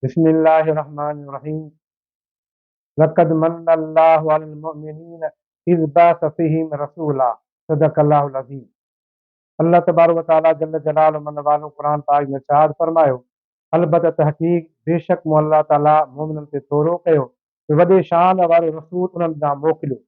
بسم الله الرحمن الرحيم لقد من الله علي المؤمنين اذ بعث فيهم رسولا صدق الله العظيم الله تبارڪ وتعالي جل جلاله من والو قرآن پاڪ ۾ ارشاد فرمايو البته تحقيق بيشڪ مون الله تعالي مؤمنن تي ٿورو ڪيو ته وڏي شان وارو رسول انهن ڏانهن موڪليو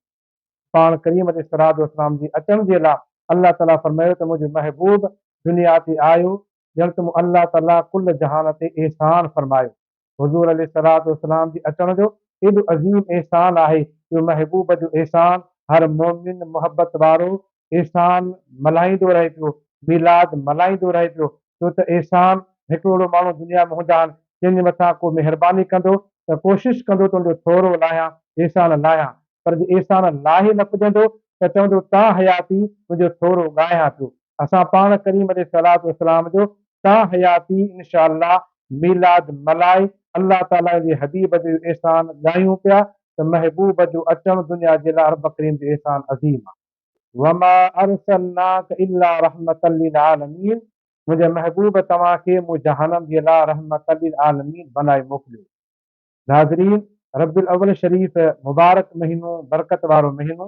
پاڻ ڪريم عليه الصلوة والسلام جي اچڻ جي لا الله تعالي فرمايو ته منهنجو محبوب دنيا تي آيو ڄڻ ته مون الله تعالي ڪل جهان تي احسان فرمايو. حضور عليه الصلوة والسلام جي اچڻ جو ايڏو عظيم احسان آهي جو محبوب جو احسان هر مؤمن، محبت وارو، احسان ملهائيندو رهي پيو، ميلاد ملهائيندو رهي پيو، ڇو ته احسان هڪڙوڙو ماڻهو دنيا ۾ هوندا آهن، جن جي مٿان ڪو مهرباني ڪندو ته ڪوشش ڪندو ته ان جو ٿورو لاهيان، احسان لاهيان، پر جي احسان لاهي نه پڄندو ته چوندو تا حياتي تنهنجو ٿورو ڳاهيان پيو. اسان پاڻ ڪريم عليه الصلواة والسلام جو تا حياتي انشاء الله ميلاد ملهائي الله تعاليٰ جي حبيب جو احسان ڳايون پيا ته محبوب جو اچڻ دنيا جي لاء رب ڪريم جو احسان عظيم آهي. وما ارسلناک الا رحمة للعالمين منهنجي محبوب توهان کي مون جهانن جي لاء رحمة للعالمين بنائي موڪليو. ناظرين! ربيع الاول شريف مبارڪ مهينو برڪت وارو مهينو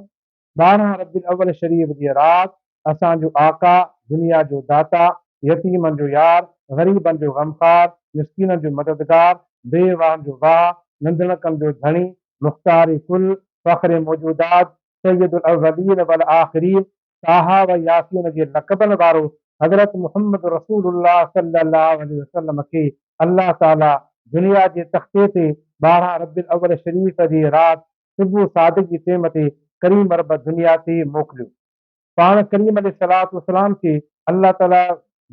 ٻارهن ربيع الاول شريف جي رات اسان جو آقا دنيا جو داتا يتيمن جو يار غريبن جو غمخوار مسڪينن جو مددگار بي واهن جو واهه ننڌڻڪن جو ڌڻي مختار ڪل فخر موجودات سيد الاولين والآخرين طه و ياسين جي لقبن وارو حضرت محمد رسول الله صلي الله عليه وسلم کي الله تعالي دنيا جي تختي تي ٻارهن ربيع الاول شريف جي رات صبح صادق جي ٽيم تي ڪريم رب دنيا تي موڪليو. پاڻ ڪريم عليه الصلوة والسلام کي الله تعاليٰ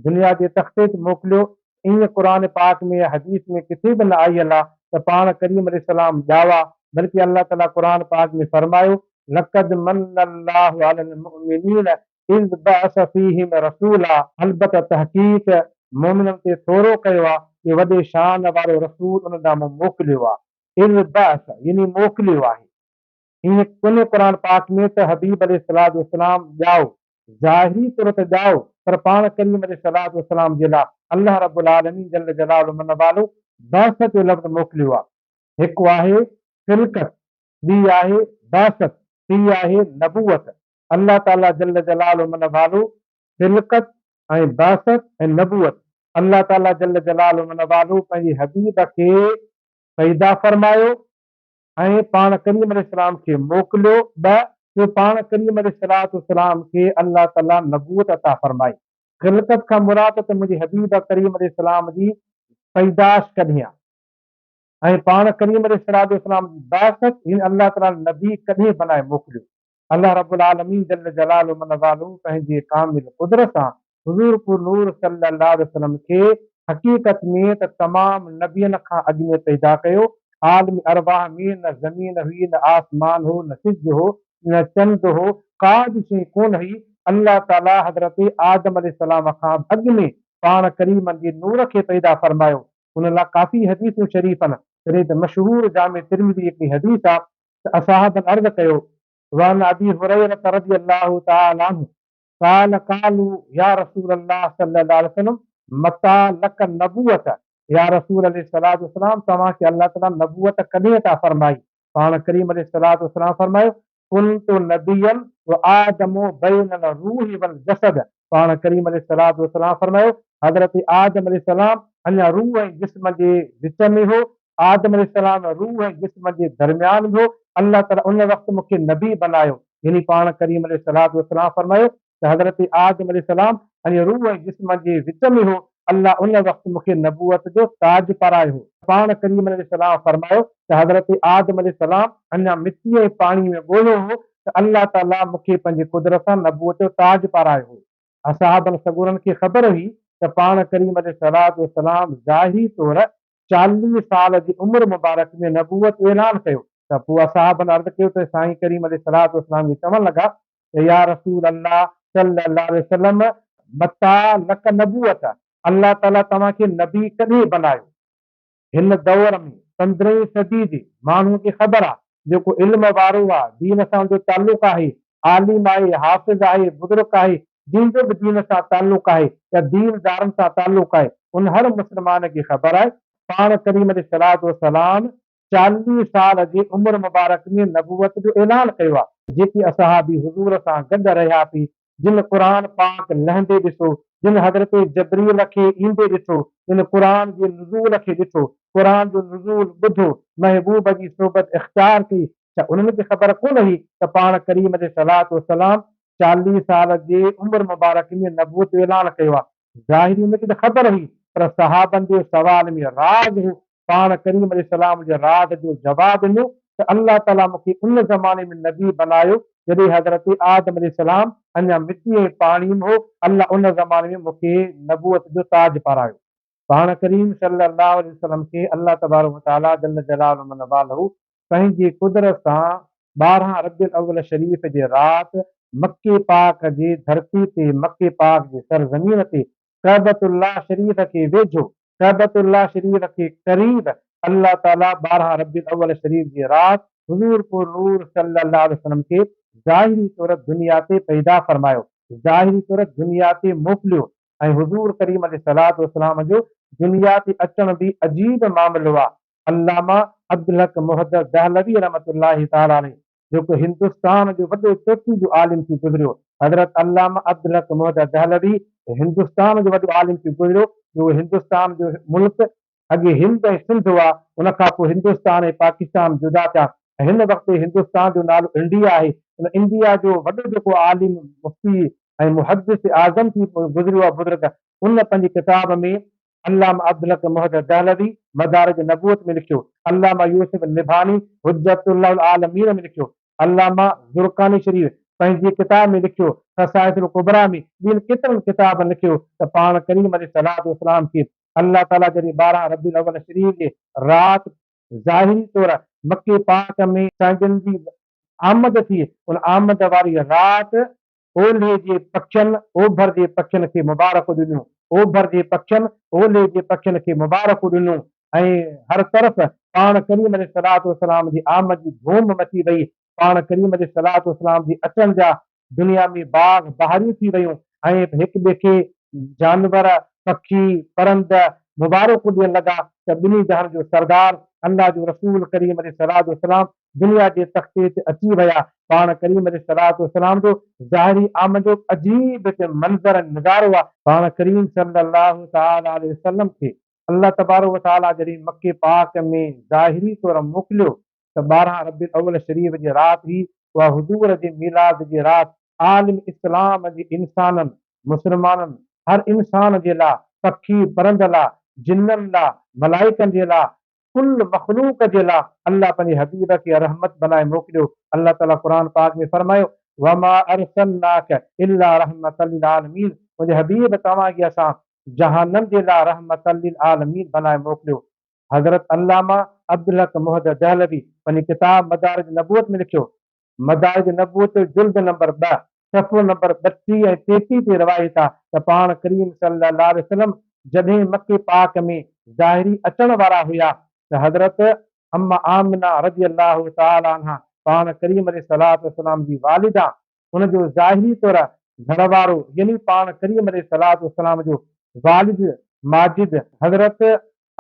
دنيا جي تختي تي موڪليو، ائين قرآن پاڪ ۾ يا حديث ۾ ڪٿي به نه آيل آ ته پاڻ ڪريم عليه السلام ڄاوا، بلڪه الله تعاليٰ قرآن پاڪ ۾ فرمايو، لقد من الله علي المؤمنين اذ بعث فيهم رسولا، البته تحقيق مؤمنن تي ٿورو ڪيو آ ڪي وڏي شان وارو رسول انهن ڏانهن مون موڪليو آ، اذ بعث يعني موڪليو آهي. ائين ڪونهي قرآن پاڪ ۾ ته حبيب عليه الصلوة والسلام ڄائو، ظاهري طور ته ڄائو پر پاڻ ڪريم عليه الصلوة والسلام جي لاء الله رب العالمين جل جلاله من والو بعثت جو لفظ موڪليو آهي. هڪ آهي خلقت، ٻي آهي بعثت، ٽي آهي نبوت. الله تعالي جل جلاله من والو خلقت ۽ بعثت ۽ نبوت الله تعالي جل جلاله من والو پنهنجي حبيب کي پيدا فرمايو، ۽ پاڻ ڪريم عليه السلام کي موڪليو به جو پاڻ ڪريم عليه الصلوة والسلام کي الله تعالي نبوت عطا فرمائي. خلقت کان مراد ته منهنجي حبيب ڪريم عليه السلام جي پيدائش ڪڏهن آ ۽ پاڻ ڪريم عليه الصلوة والسلام جي بعثت هن الله تعالي نبي ڪڏهن بنائي موڪليو. الله رب العالمين جل جلاله من والو پنهنجي ڪامل قدرت سان حضور پور نور صلي الله عليه وسلم کي حقيقت ۾ ته تمام نبين کان اڳ ۾ پيدا ڪيو، عالم ارواح ۾ نه زمين هئي نه آسمان هو نه سج هو نه چنڊ هو ڪا به شيء ڪونه هئي، الله تعالي حضرت آدم عليه السلام کان به اڳ ۾ پاڻ ڪريم جي نور کي پيدا فرمايو، ان لاء ڪافي حديثون شريفن جڏهن ته مشهور جامع ترمذي جي هڪڙي حديث آ صحابن عرض ڪيو، وعن ابي هريره رضي الله تعالٰي عنه قال، قالو يا رسول الله صلي الله عليه وسلم متٰي لڪ النبوة، يا رسول عليه الصلوة والسلام توهان کي الله تعالٰي نبوت ڪڏهن عطا فرمائي؟ پاڻ ڪريم عليه الصلوة والسلام فرمايو، ڪنت نبيًا وآدم بين الروح والجسد، پاڻ ڪريم عليه الصلوة والسلام فرمايو، حضرت آدم عليه السلام اڃا روح ۽ جسم جي وچ ۾ هو، آدم عليه السلام روح ۽ جسم جي درميان ۾ هو، الله تعالي ان وقت مون کي نبي بنايو، يعني پاڻ ڪريم عليه الصلوة والسلام فرمايو ته حضرت آدم عليه السلام اڃا روح ۽ جسم جي وچ ۾ هو، الله ان وقت مون کي نبوت جو تاج پارايو هو. پاڻ ڪريم عليه السلام فرمايو ته حضرت آدم عليه السلام اڃا مٽيء ۽ پاڻيء ۾ ڳوهيو هو ته الله تعاليٰ مون کي پنهنجي قدرت سان نبوت جو تاج پارايو هو. اصحابن سڳورن کي خبر هئي ته پاڻ ڪريم عليه الصلواة والسلام ظاهري طور چاليهه سال جي عمر مبارڪ ۾ نبوت جو اعلان ڪيو ته پوء اصحابن عرض ڪيو ته سائين ڪريم عليه الصلواة والسلام ائين چوڻ لڳا ته يا رسول الله صلّي الله عليه وسلّم متٰي لڪ نبوّت، الله تعالٰي توهان کي نبي ڪڏهن بنايو؟ هن دؤر ۾ پندرهين صدي جي ماڻهوء کي خبر آ، جيڪو علم وارو آ، دين سان ان جو تعلق آهي، عالم آهي، حافظ آهي، بزرگ آهي، جنهن جو به دين سان تعلق آهي يا دين دارن سان تعلق آهي، ان هر مسلمان کي خبر آهي، پاڻ ڪريم عليه الصلوة والسلام چاليهه سال جي عمر مبارڪ ۾ نبوت جو اعلان ڪيو آ. جيڪي اصحابي حضور سان گڏ رهيا پي جن قرآن پاڪ لهندي ڏٺو، جن حضرت جبريل کي ايندي ڏٺو، جن قرآن جي نزول کي ڏٺو، قرآن جو نزول ٻڌو، محبوب جي صحبت اختيار ڪئي، ڇا انهن کي خبر ڪونه هئي ته پاڻ ڪريم عليه الصلوة والسلام چاليهه سال جي عمر مبارڪ ۾ نبوت جو اعلان ڪيو آ. ظاهري ان کي ته خبر هئي پر صحابن جي سوال ۾ راز هو، پاڻ ڪريم عليه السلام جي راز جو جواب ڏنو ته الله تعاليٰ مون کي ان زماني ۾ نبي بنايو جڏهن حضرت آدم عليه السلام اڃا مٽي ۽ پاڻي م هو الله ان زماني ۾ مون کي نبوت جو تاج پارايو. پاڻ ڪريم صلّي اللّٰه عليه وسلّم کي الله تبارڪ وتعاليٰ جلّ جلالّه من والّه پنهنجي قدرت سان ٻارهن ربيع الاول شريف جي رات مڪي پاڪ جي ڌرتي تي مڪي پاڪ جي سرزمين تي ڪعبة الله شريف کي ويجهو، ڪعبة الله شريف کي قريب الله تعالي ٻارهن ربيع الاول شريف جي رات حضور پور نور صلي الله عليه وسلم کي ظاهري طور دنيا تي پيدا فرمايو، ظاهري طور دنيا تي موڪليو ۽ حضور ڪريم عليه الصلوة والسلام جو دنيا تي اچڻ به عجيب معاملو آهي. علامه عبدالحق محدث دهلوي رحمة الله تعالٰي عليه جيڪو هندستان جو وڏو چوٽي جو عالم ٿي گذريو. حضرت علامه عبدالحق محدث دهلوي هندستان جو وڏو عالم ٿي گذريو جو هندستان جو ملڪ اڳي هند ۽ سنڌ هئا ان کان پوء هندستان ۽ پاڪستان جدا ٿيا ۽ هن وقت هندستان جو نالو انڊيا آهي ان انڊيا جو وڏو جيڪو عالم مفتي ۽ محدث اعظم ٿي گذريو آهي بزرگ ان پنهنجي ڪتاب ۾ علامه عبدالحق محدث دهلوي مدارج النبوة ۾ لکيو، علامه يوسف النبهاني حجة الله العالمين ۾ لکيو، علامه زرقاني شريف پنهنجي ڪتاب ۾ لکيو، خصائص الڪبريٰ ۾ ٻين ڪيترن ڪتابن لکيو ته پاڻ ڪريم عليه الصلوة والسلام کي الله تعاليٰ جڏهن ٻارهن ربيع الاول شريف جي رات ظاهري طور مڪي پاڪ ۾. سائين جن جي آمد ٿي ان آمد واري رات اولهي جي پکين اوڀر جي پکين کي مبارڪون ڏنيون، اوڀر جي پکين اولهي جي پکين کي مبارڪون ڏنون ۽ هر طرف پاڻ ڪريم عليه الصلوة والسلام جي آمد جي ڌوم مچي وئي، پاڻ ڪريم عليه الصلوة والسلام جي اچڻ جا دنيا ۾ باغ بهاريون ٿي ويون ۽ هڪٻئي کي جانور، پکي، پرند مبارڪون ڏيڻ لڳا ته ٻنهي جهان جو سردار الله جو رسول ڪريم عليه الصلوة والسلام دنيا جي تختي تي اچي ويا. پاڻ ڪريم عليه الصلوة والسلام جو ظاهري آمد جو عجيب هڪ منظر ۽ نظارو آهي. پاڻ ڪريم صلّي الله تعالٰي عليه وسلّم کي الله تبارڪ وتعالٰي جڏهن مڪي پاڪ ۾ ظاهري طور موڪليو ته ٻارهن ربيع الاول شريف جي رات هئي، اها حضور جي ميلاد جي رات عالم اسلام جي انسانن، مسلمانن، هر انسان جي لاء، پکي پرند لاء، جنن لاء، ملائڪن جي لاء، ڪل مخلوق جي لا الله پنهنجي حبيب کي رحمت بنائي موڪليو الله تعالي قرآن پاڪ ۾ فرمايو وما ارسلناک الا رحمة للعالمين منهنجي حبيب توهان کي اسان جهانن جي لا رحمة للعالمين بنائي موڪليو حضرت علامه عبدالحق محد دهلوي پنهنجي ڪتاب مدارج نبوت ۾ لکيو مدارج نبوت جلد نمبر ٻه صفحو نمبر ٻٽيهه ۽ ٽيٽيهه تي روايت آ ته پاڻ ڪريم صلي الله عليه وسلم جڏهن مڪي پاڪ ۾ ظاهري اچڻ وارا هيا ته حضرت ام آمنه رضي الله تعالٰي عنها پاڻ ڪريم عليه الصلوة والسلام جي والده ان جو ظاهري طور گهر وارو يعني پاڻ ڪريم عليه الصلوة والسلام جو والد ماجد حضرت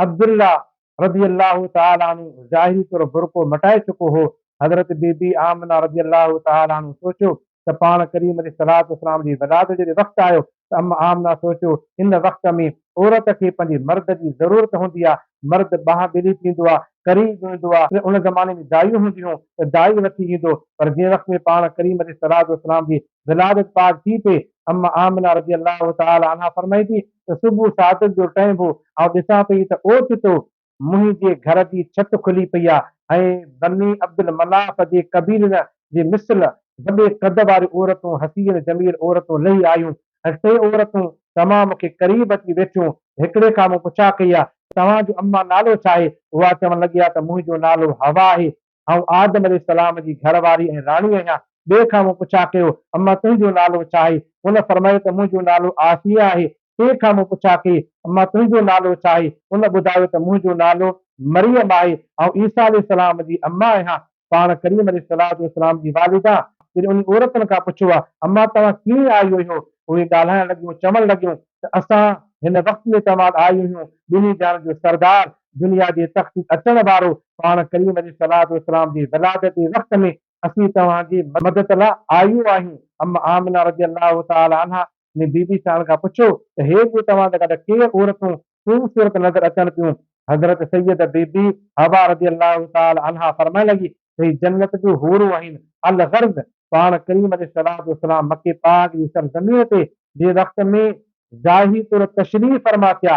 عبدالله رضي الله تعالٰي عنه ظاهري طور برقعو مٽائي چڪو هو. حضرت بي بي آمنه رضي الله تعالٰي عنه سوچيو ته پاڻ ڪريم عليه الصلوة والسلام جي ولادت جڏهن وقت آيو ته ام آمنه سوچيو ان وقت ۾ عورت کي پنهنجي مرد جي ضرورت هوندي آهي، مرد باهه ٻلي پيندو آهي، ڪري ويندو آهي، ان زماني ۾ دائيون هونديون هيون ته دائي وٺي ايندو پر جنهن وقت ۾ پاڻ ڪريم عليه الصلوة والسلام جي ولادت پاڪ ٿي پئي ام آمنه رضي الله تعالٰي عنها فرمائي ٿي ته صبح سعادت جو ٽئين ڀو آئون ڏسان پئي ته اوچتو منهنجي گهر جي ڇت کلي پئي آ ۽ بني عبدالمناف جي قبيلن جي مثل وڏي قد واريون عورتون حسين جميل عورتون لهي آيون ۽ ٽي عورتون تمام مون کي قريب اچي ويٺيون هڪڙي کان مون پڇا ڪئي آ توهان جو اما نالو ڇا آهي اها چوڻ لڳي آ ته منهنجو نالو حوا آهي آئون آدم عليه السلام جي گهر واري ۽ راڻي آهيان. ٻئي کان مون پڇا ڪيو، اما تنهنجو نالو ڇا آهي؟ ان فرمايو ته منهنجو نالو عافيه آهي. ٽئين کان مون پڇا ڪئي، اما تنهنجو نالو ڇا آهي؟ ان ٻڌايو ته منهنجو نالو مريم آهي. آئون عيسيٰ عليه السلام جي اما آهيان. پاڻ ڪريم عليه الصلواة والسلام جي والده. جڏهن انهن عورتن کان پڇيو، اما توهان ڪيئن آيو هيو؟ اهي ڳالهائڻ لڳيون، چوڻ لڳيون. ته اسان هن وقت ۾ توهان ڏانهن اهو ٻنهي جهان جو سردار دنيا جي تخت تي اچڻ وارو پاڻ ڪريم عليه الصلوة والسلام جي ولادت جي وقت ۾ اسين توهان جي مدد لاء آيون آهيون ام آمنه رضي الله تعالٰي عنها ۾ بي بي سان کان پڇيو ته هي جو توهان سان گڏ ڪير عورتون خوبصورت نظر اچن پيون حضرت سيده بي بي حوا رضي الله تعالٰي عنها فرمائڻ لڳي هي جنت جون حورون آهن. الغرض پاڻ ڪريم عليه الصلوة والسلام مڪي پاڪ جي سرزمين تي جنهن وقت ۾ جاهي طور تشريف فرما ٿيا،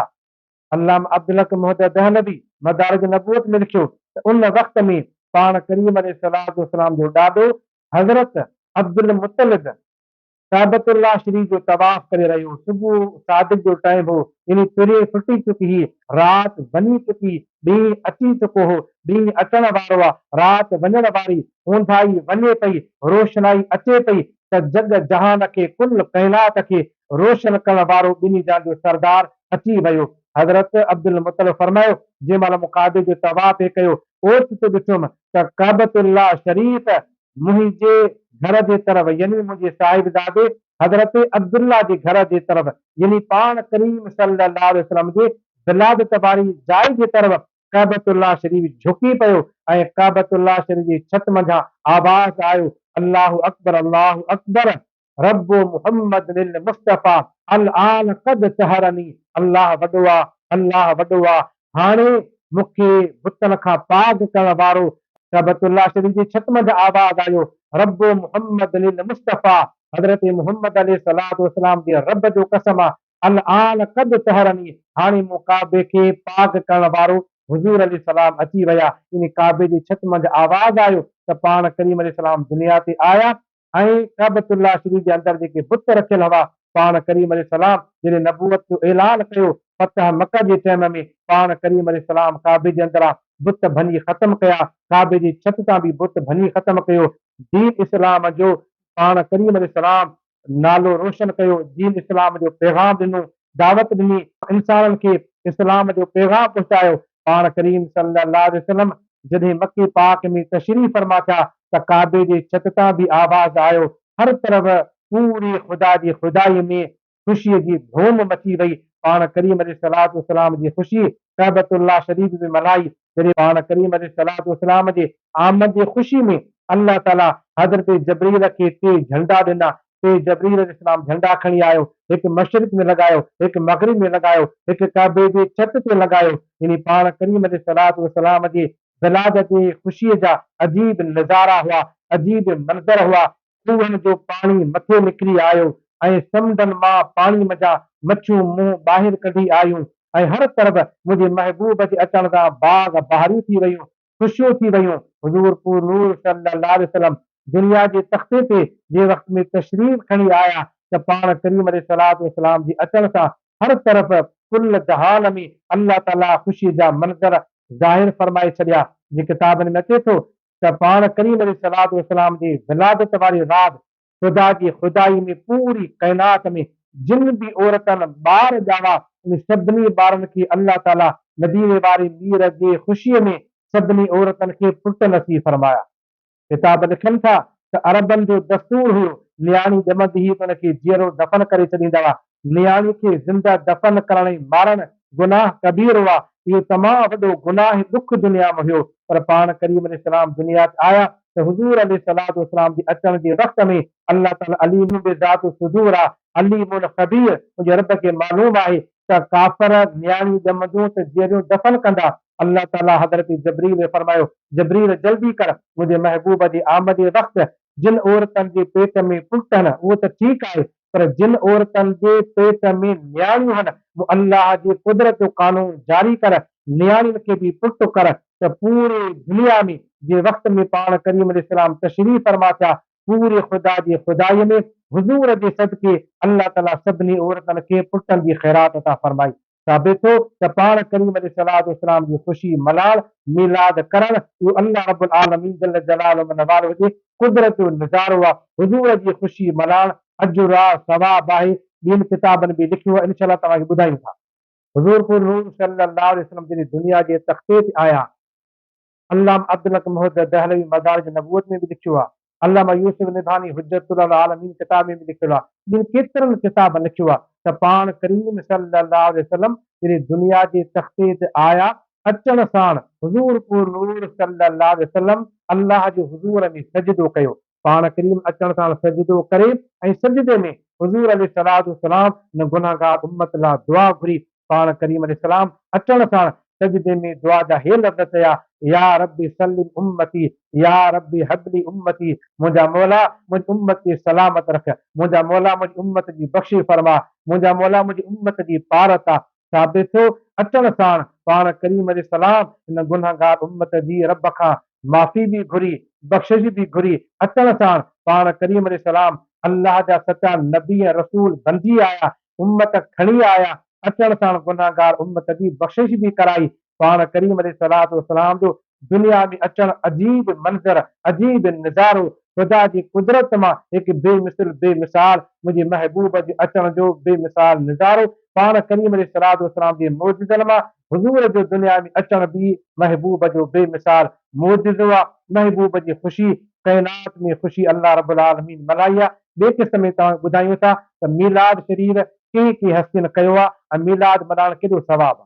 علامه عبدالحق مهدي دهلوي مدارج نبوت ۾ لکيو ته ان وقت ۾ پاڻ ڪريم عليه الصلوة والسلام جو ڏاڏو حضرت عبدالمطلب ڪعبة الله شريف جو طواف ڪري رهيو هو. صبح صادق جو ٽائيم هو، يعني پرينء ڦٽي چڪي هئي. رات وڃي چڪي، ڏينهن اچي چڪو هو. ڏينهن اچڻ وارو آ، رات وڃڻ واري. اونداهي وڃي پئي، روشنائي اچي پئي ته جڳ جهان کي، ڪل ڪائنات کي روشن ڪرڻ وارو ٻنهي جهان جو سردار اچي ويو. حضرت عبدالمطلب فرمايو، جنهن مهل مون ڪعبي جو طواف هي ڪيو، اوچتو ڏٺم ته ڪعبة الله شريف منهنجي گهر جي طرف يعني منهنجي صاحبزادي حضرت عبدالله جي گهر جي طرف يعني پاڻ ڪريم صلي الله عليه وسلم جي ولادت واري جاء جي طرف ڪعبة الله شريف جهڪي پيو ۽ ڪعبة الله شريف جي ڇت منجهان آواز آيو الله اڪبر الله اڪبر رب محمد المصطفيٰ الآن قد سحرني الله وڏو آ الله وڏو آ هاڻي مون کي بتن کان پاڪ ڪرڻ وارو ڪعبة الله شريف جي ڇت منجهه آواز آيو رب محمد المصطفيٰ حضرت محمد عليه الصلوة والسلام جي رب جو قسم آ الآن قد سحرني هاڻي مون ڪعبي کي پاڪ ڪرڻ وارو حضور عليه السلام اچي ويا يعني ڪعبي جي ڇت منجهه آواز آيو ته پاڻ ڪريم عليه السلام دنيا تي آيا ۽ ڪعبة الله شريف جي اندر جيڪي بت رکيل هوا، پاڻ ڪريم عليه السلام جڏهن نبوت جو اعلان ڪيو، فتح مڪه جي ٽيم ۾، پاڻ ڪريم عليه السلام ڪعبي جي اندران بت ڀڃي ختم ڪيا، ڪعبي جي ڇت تان به بت ڀڃي ختم ڪيو، دين اسلام جو پاڻ ڪريم عليه السلام نالو روشن ڪيو، دين اسلام جو پيغام ڏنو، دعوت ڏني، انسانن کي اسلام جو پيغام پهچايو، پاڻ ڪريم صلّي اللّٰه عليه وسلّم جڏهن مڪي پاڪ ۾ تشريف فرما ٿيا ته ڪعبي جي ڇت تان به آواز آيو، هر طرف پوري خدا جي خدائي ۾ خوشي جي ڌوم مچي وئي، پاڻ ڪريم عليه الصلّوة والسلّام جي خوشي ڪعبة اللّٰه شريف ۾ ملهائي، جڏهن پاڻ ڪريم عليه الصلّوة والسلّام جي آمد جي خوشي ۾ الله تعالي حضرت جبرئيل کي ٽي جهنڊا ڏنا، تي جبريل عليه السلام جهنڊا کڻي آيو، هڪ مشرق ۾ لڳايو، هڪ مغرب ۾ لڳايو، هڪ ڪعبي جي ڇت تي لڳايو، يعني پاڻ ڪريم عليه الصلوة والسلام جي ولادت جي خوشيء جا عجيب نظارا هئا، عجيب منظر هئا، کوهن جو پاڻي مٿي نڪري آيو ۽ سمنڊن مان پاڻي منجهان مڇيون منهن ٻاهر ڪڍي آيون ۽ هر طرف منهنجي محبوب جي اچڻ سان باغ بهاريون ٿي ويون، خوشيون ٿي ويون. حضور پور نور صلي الله عليه وسلم دنيا جي تختي تي جنهن وقت ۾ تشريف کڻي آيا ته پاڻ ڪريم عليه الصلوة والسلام جي اچڻ سان هر طرف ڪل جهان ۾ الله تعاليٰ خوشي جا منظر ظاهر فرمائي ڇڏيا جي ڪتابن ۾ اچي ٿو ته پاڻ ڪريم عليه الصلوة والسلام جي ولادت واري رات خدا جي خدائي ۾ پوري ڪائنات ۾ جن به عورتن ٻار ڄاوا ان سڀني ٻارن کي الله تعالي مديني واري مير جي خوشي ۾ سڀني عورتن کي پٽ نصيب فرمايا. ڪتاب لکن ٿا ته عربن جو دستور هيو نياڻي ڄمندي ئي ان کي جيئرو دفن ڪري ڇڏيندا هئا نياڻي کي زنده دفن ڪرڻ ۽ مارڻ گناهه ڪبير هئا. اهو تمام وڏو گناهه ۽ ڏک دنيا ۾ هيو. پر پاڻ ڪريم عليه السلام دنيا تي آيا ته حضور عليه الصلوة والسلام جي اچڻ جي وقت ۾ الله تعالي عليم بذات الصدور آ، عليم خبير، منهنجي رب کي معلوم آهي ته ڪافر نياڻيون ڄمنديون ته جيئريون دفن ڪندا. الله تعالي حضرت جبريل کي فرمايو، جبريل جلدي ڪر، منهنجي محبوب جي آمد جي وقت جن عورتن جي پيٽ ۾ پوٽ هن اهو ته ٺيڪ آهي پر جن عورتن جي پيٽ ۾ نياڻيون هن، مون الله جي قدرت جو قانون جاري ڪر، نياڻين کي به پٽ ڪر ته پوري دنيا ۾ جنهن وقت ۾ پاڻ ڪريم عليه السلام تشريف فرما ٿيا، پوري خدا جي خدائي ۾ حضور جي صدقي الله تعالي سڀني عورتن کي پٽن جي خيرات عطا فرمائي. ثابت ٿيو ته پاڻ ڪريم عليه الصلواة والسلام جي خوشي ملهاڙ، ميلاد ڪرڻ، اهو الله رب العالمين جل جلاله من والهه جي قدرت جو نظارو آهي، حضور جي خوشي ملهاڻ اجر آهي، ثواب آهي، ٻين ڪتابن به لکيو آهي، انشاء الله توهان کي ٻڌايون ٿا. حضور پور نور صلي الله عليه وسلم جڏهن دنيا جي تختي تي آيا. علامه عبدالحق محدث دهلوي مدارج نبوت ۾ به لکيو آهي. علامه يوسف نبهاني حجت الله العالمين ڪتاب ۾ به لکيل آهي. جن ڪيترن ڪتابن لکيو آهي ته پاڻ ڪريم صلي الله عليه وسلم جڏهن دنيا جي تختي تي آيا، اچڻ ساڻ حضور پور نور صلي الله عليه وسلم الله جي حضور ۾ سجدو ڪيو، پاڻ ڪريم اچڻ ساڻ سجدو ڪري ۽ سجدي ۾ حضور عليه الصلوة والسلام ۽ گنهگار امت لا دعا گهري، پاڻ ڪريم عليه السلام اچڻ ساڻ سجدي ۾ دعا جا هي لفظ چيا، يا رب سلم امتي، يا رب هب لي امتي، منهنجا مولا منهنجي امت کي سلامت رک، منهنجا مولا منهنجي امت جي بخشش فرما، منهنجا مولا منهنجي امت جي پارت آ، ثابت ٿيو، اچڻ ساڻ پاڻ ڪريم عليه السلام ان گنهگار امت جي رب کان معافي به گهري، بخشش به گهري، اچڻ ساڻ پاڻ ڪريم عليه السلام الله جا سچا نبي ۽ رسول بنجي آيا، امت کڻي آيا، اچڻ ساڻ گنهگار امت جي بخشش به ڪرائي، پاڻ ڪريم عليه الصلواة والسلام جو دنيا ۾ اچڻ عجيب منظر، عجيب نظارو، خدا جي قدرت مان هڪ بي مثل، بي مثال منهنجي محبوب جي اچڻ جو بي مثال نظارو، پاڻ ڪريم عليه الصلواة والسلام جي معجزن مان حضور جو دنيا ۾ اچڻ به محبوب جو بي مثال معجزو آ، محبوب جي خوشي ڪائنات ۾ خوشي الله رب العالمين ملهائي آ، ٻئي قسط ۾ توهان کي ٻڌايون ٿا ته ميلاد شريف ڪنهن ڪنهن هستين ڪيو آ ۽ ميلاد ملهائڻ ڪيڏو ثواب آ.